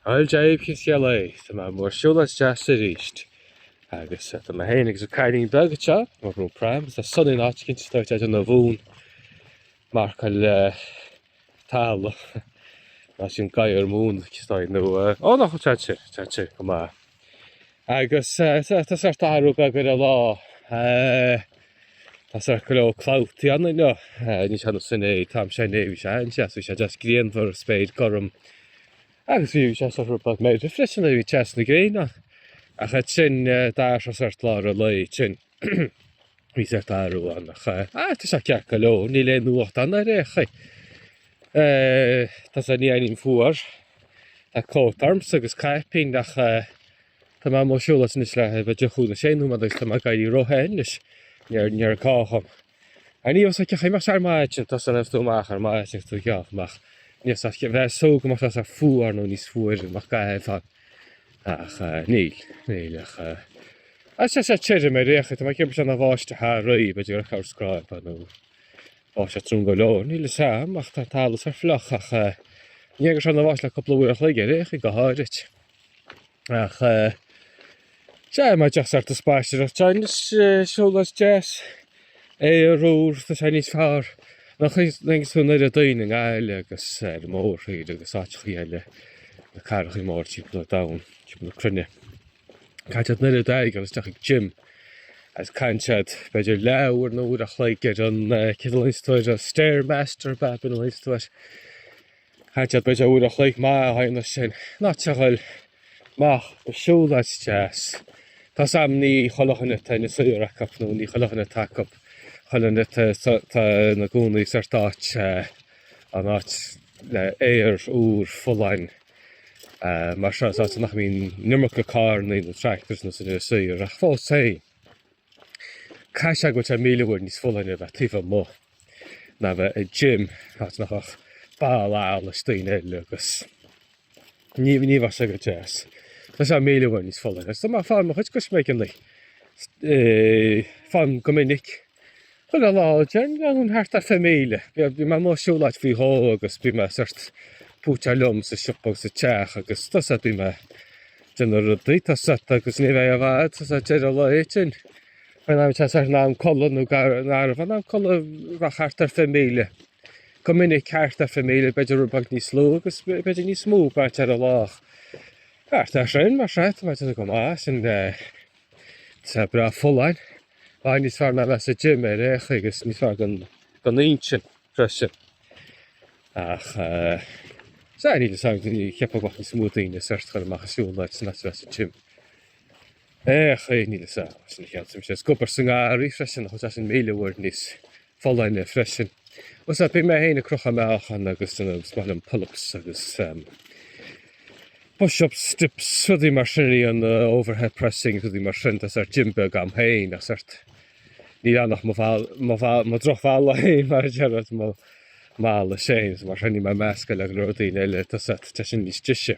An jab is eol é, tá mé amuigh ar siúlóid deas arís agus tá mé féin agus an cailín beag anseo, mé ag brú pram, tá sun in áit cinnte dóite as an Abhón, marcail tall mar sin gadhar mhóin, cistine nó, ó ná chomh teannta, teannta go maith. Agus tá sórt athrú beag ar an lá. Tá sórt go leor clabhtaí ann inniu. Níl sé ionann is inné, an t-am seo inné, bhí sé an-deas, bhí sé deas grianmhar, spéir gorm. Agus bhí sé sórt rud beag meirbh freisin a bhí teas na gréine. Ach ansin d'fhaigheas sé sórt lá ar a laghad sin. Bhí sórt athrú ann ach. Ah, tá sé ceart go leor, níl aon fhuacht ann ar aon chaoi. Eh, tá sé ní airím fuar, tá cóta ormsa agus caipín ach. Tá mé amuigh ag siúlóid anois le b'fhéidir cúig nó sé nóiméad agus tá mé ag éirí ró-the anois, níor, níor gá dhom. Ar ní fhásfaidh ceachtar imeacht ar maidin sin tá a fhios agat a bheas tú amach ar maidin sin tú ag breathnú amach níos as a bheas súgradh mar tusa fuar nó níos fuaire nach gcaithfidh fad ach níl, níl ach a tá sé tirim ar aon chaoi tá mé ag ceapadh go raibh sé ina bháisteach aréir b'fhéidir gur chaith sé scráib nó báisteach trom go leor níl a fhios agam ach tá an talamh sách fliuch ach níor chuir sé aon bháisteach le cúpla uair an chloig ar aon chaoi go háirid. Ach sea, má deas ort an spaisteoireacht seo anois, siúlóid deas, aer úr, tá sé níos fearr ná ag na daoine i nGaillimh agus ar an mórthír agus áiteacha eile, na cathrachaí móra timpeall an domhain, timpeall na cruinne. Caithfidh siad nuair atá siad ag goil isteach ag gym agus caithfidh siad b'fhéidir leathuair nó uair an chloig ar an, céard a ghlaonns tú air, an Stairmaster ab ea a ghlaonns tú air. Caithfidh siad b'fhéidir uair an chloig maith a chaitheamh ansin, in áit a ghoil amach ag siúlóid deas. Tá a fhios agam ní chuile dhuine atá ina suíor acu, nó ní chuile dhuine atá acu, chuile dhuine atá ina gcónaí sa sórt áit, an áit le aer úr folláin mar seo, is áit nach mbíonn an iomarca carrannaí nó tractors nó sin ar an suíor, ach fós féin. Caithfidh sé go bhfuil sé míle uair níos folláine a bheith taobh amuigh ná bheith i gym áit nach bhfuil ach boladh allais daoine eile agus ní ní bhíonn sé go deas. Tá sé míle uair níos folláine, tá mé ag fáil mo chuid coisméig an lae, faighim go minic Cuid de na laethanta thart ar fiche míle. Bhí mé amuigh ag siúlóid faoi dhó agus bhí mé sórt púiteach liom sa siopa agus sa teach agus tá a fhios agat bhí mé ag déanamh rudaí tá a fhios agat agus ní bheidh i bhfad tá a fhios agat deireadh lá éigin beidh mé tá a fhios agat ar an am codladh nó gar don am codladh bheadh thart ar fiche míle. Go minic thart ar fiche míle b'fhéidir rud beag níos lú agus b'fhéidir níos mó ag brath ar an lá ach. Thart ar sin mar seo tá mé ag déanamh go maith sin eh, tá breá folláin. Ach níos fearr ná bheith sa gym ar aon chaoi agus níos fearr don don intinn freisin. Ach sea, níl fhios a'm, ní cheapfá go mbeadh níos mó daoine sort ag dul amach ag siúl ná ná bheith sa gym ar aon chaoi, níl fhios a'm, sin a cheapaimse. Is ag obair sa ngarraí freisin, tá sé sin míle uair níos folláine freisin. Fhios a'd bíonn mé féin ag crochadh meáchan agus is maith liom pull-ups agus push-ups, dips, rudaí mar sin, í an overhead pressing, rudaí mar sin, tá sort gym beag a'm féin, tá sort níl ann ach mo bhall, mo bhall, mo drochbhalla é mar a déarfá, mo mhall is é, mar sin níl mé ag meascadh le go leor daoine eile, tá sort, tá sin níos deise.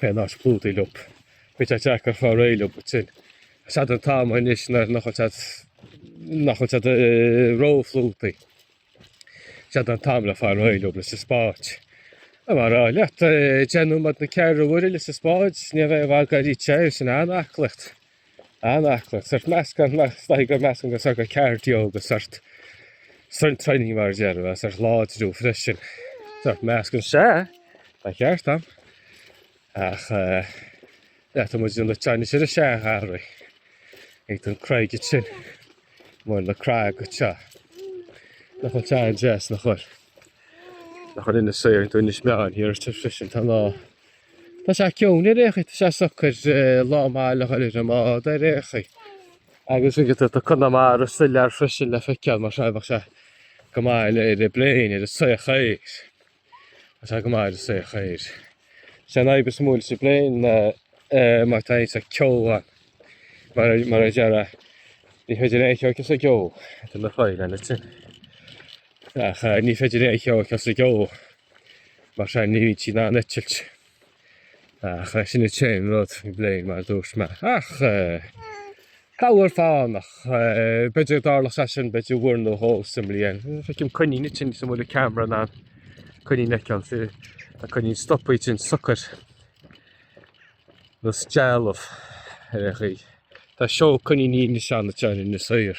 Beidh an áit plúchta leo, beidh sé deacair fáil réidh leo ansin. Is é an t-am anois nuair nach bhfuil sé nach bhfuil sé róphlúchta. Is é an t-am le fáil réidh leo leis an spáid. A mar a leat déanfaidh muid na ceithre uaire leis an spáid, sníomh é a bhagair í tá sé sin an-aclaíocht. An-aclaíocht, sort meascán, staighre go meascán go sort go cardio go sort strength training mar a déarfá, sort láidriú freisin. Sort meascán sé, tá ceart am, ach eh, le tá muid na teine sin a sé garraí, ag don craig it sin, mar na craig go te, nach bhfuil sin go deas nach bhfuil, nach bhfuil Inis Oírr, tá Inis Meáin, hir te freisin, tá ná, Tá sé ciúin ar aon chaoi, tá sé socair lá maith le dhul ar an mbád ar aon chaoi agus rinne tú do Conamara soiléir freisin le feiceáil mar seo bheadh sé go maith le haghaidh an pléin, ar an soitheach aeir, tá sé go maith ar an soitheach aeir. Is é an fhadhb is mó leis an bpléin ná má tá ceo ann mar mar a déarfá ní féidir aon cheo a fheiceáil sa gceo, tá na fáidh lena chin, ach ní féidir aon cheo a fheiceáil sa gceo. Mar sin, ní bhíonn siad in ann eitilt ach sin é an t-aon rud i bpléin, mar a dúirt mé. Ach corruair fánach, b'fhéidir go dtarlódh sé sin, b'fhéidir uair nó dhó sa mbliain. Feicim coinín ansin is bhfuil an ceamara in ann an coinín a fheiceáil, tá coinín stopaithe ansin socair nós dealbh ar aon chaoi. Tá seó coiníní ansin atá in Inis Oírr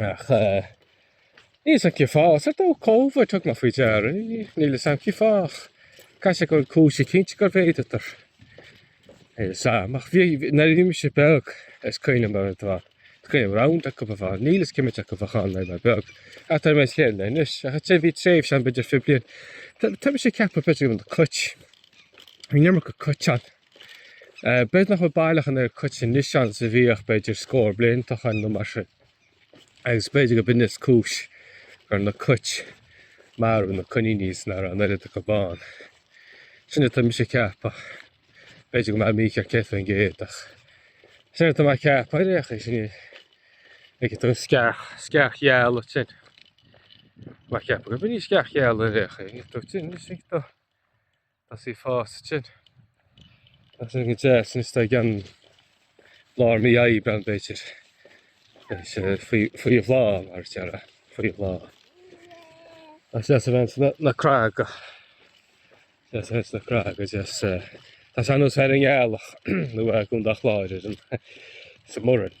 Ach níl fhios a'm cén fáth. Sort ó Covid thug mé faoi deara é. Níl fhios a'm cén fáth ach caithfidh sé go bhfuil cúis eicínt gur mhéadaíodar, níl fhios a'm. Ach bhí, nuair a bhí mise beag, is cuimhnim ar an dfad, is cuimhin liom roinnt acu ba mhar, níl fhios cé mhéad acu a bhí ann nuair a bhí mé beag, ach tá mé is léir anois. Ach ansin bhí tréimhse ann b'fhéidir fiche bliain, tá mise ag ceapadh b'fhéidir go raibh na cait, bhí an iomarca cait ann, B'fhéidir nach bhfuil baileach an oiread cuit anois ann is a bhíodh, b'fhéidir scór blianta ó shoin nó mar sin, agus b'fhéidir gurb in is cúis gur na cuit marbh, na coiníní is na ar an oiread acu bán. Sin atá mise ag ceapadh. B'fhéidir go bhfuil mé mícheart céad faoin gcéad ach sin atá mé ag ceapadh ar aon chaoi, sin é. Ag tú sceach sceach gheal ansin. Tá mé ag ceapadh gurb í sceach gheal ar aon chaoi tú sin is ag tú. Tá sí fásta ansin. Tá sí go deas anois tá, i gceann lár mí Aibreáin b'fhéidir. Beidh sé faoi bhláth mar a déarfá, faoi bhláth. Tá sé deas a bheith ins na craga. Tá sí ins na craga deas. Tá sé ar nós bheith ar an ngealach nó i gContae an Chláir ar an, sa mBurren.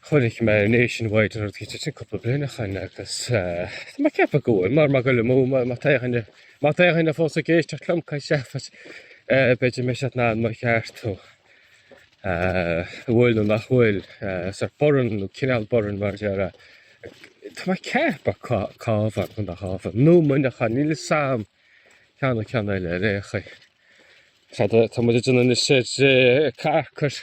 Chonaic mé Nationwide an rud céanna sin cúpla bliain ó shin agus tá mé ag ceapadh go bhfuil, mara bhfuil mé ag goil amú má tá aon duine, má tá aon duine fós ag éisteacht liom ag caint seafóid eh, b'fhéidir go mbeidh siad in ann mo cheartú eh, an bhfuil nó nach bhfuil eh, Burren nó cineál Burren mar a déarfá. Tá mé ag ceapadh Cabhán, Contae an Chabháin nó Muineachán níl 'fhios a'm ceann ceann eile ar aon chaoi. Tá muid in na sé carcair.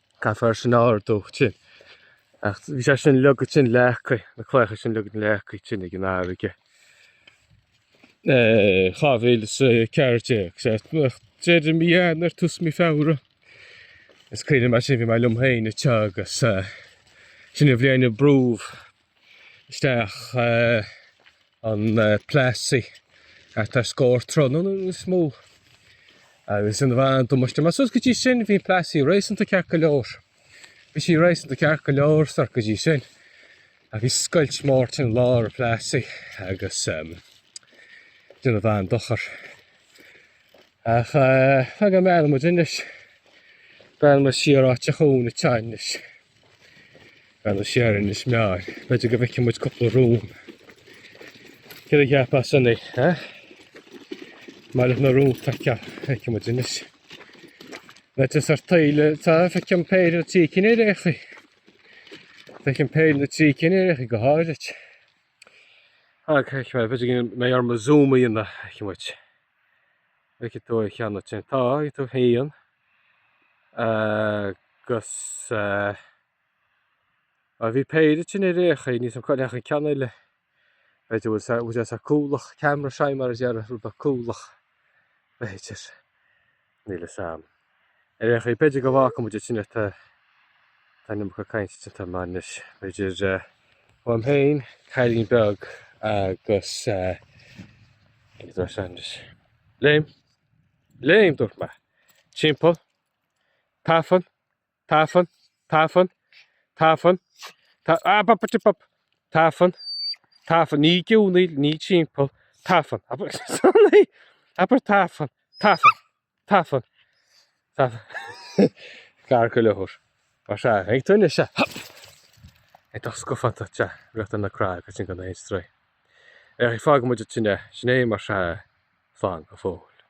Caithfear sin a ardú ansin. Ach bhí sé sin leagtha ansin leacaí, na claíocha sin leagtha leacaí ansin ag an fharraige. Eh, 2014, sea, ach deireadh mí Eanáir, tús mí Feabhra. Is cuimhin liom mar sin, bhí mé liom féin ag teacht agus eh, sin an bhliain a brúdh isteach eh, an Plassey thart ar scór troithe nó níos mó agus déanadh an-damáiste. Mar suas go dtí sin bhí an Plassey réasúnta ceart go leor. Bhí sí réasúnta ceart go leor sórt go dtí sin a bhí scoilt mór ansin i lár an Plassey agus um, déanadh an-dochar. Ach uh, eh, fag an mbreathnóidh muid anois, breathnóidh muid siar áit a chún i teannis. ag breathnú siar ar Inis Meáin. B'fhéidir go bhfeicfidh muid cúpla rón. Céard a cheap as san é, ha? Mairfidh na róin le feiceáil, feicfidh muid anois. Na te ar taoile, tá feicim péire nó trí cinn ar aon chaoi. Feicim péire nó trí cinn ar aon chaoi go háirid. Ag feic mé, b'fhéidir go mbeidh orm zoomáil ann, feicfidh muid. Feicfidh tú a cheann te. Tá, feicfidh tú féin. agus bhí péire ansin ar aon chaoi, níl 'fhios a'm cá ndeachaigh an ceann eile, b'fhéidir go bhfuil sé cúthaileach, camera shy mar a déarfá, rud beag cúthaileach, b'fhéidir, níl 'fhios a'm. Ar aon chaoi, b'fhéidir go bhfágfaidh muid ansin é, tá an iomarca cainte déanta a'm anois, b'fhéidir uaim féin, cailín beag agus eh, níl 'fhios a'm anois. Léim? Léim, dúirt mé. Timpeall. Tafann, tafann, tafann, tafann, ta, ah, pop, pop, pop, tafann, tafann, ní geonaíl, ní timpeall, tafann, abair, sorry, abair, tafann, tafann, tafann, tafann, gar go leor. Mar sea, ag tuinne se, hop, ag dul scafánta te, rith ar na creaga agus sin gan aon stró. Ach fágfaidh muid an tine, sin é, mar sin, slán go fóill.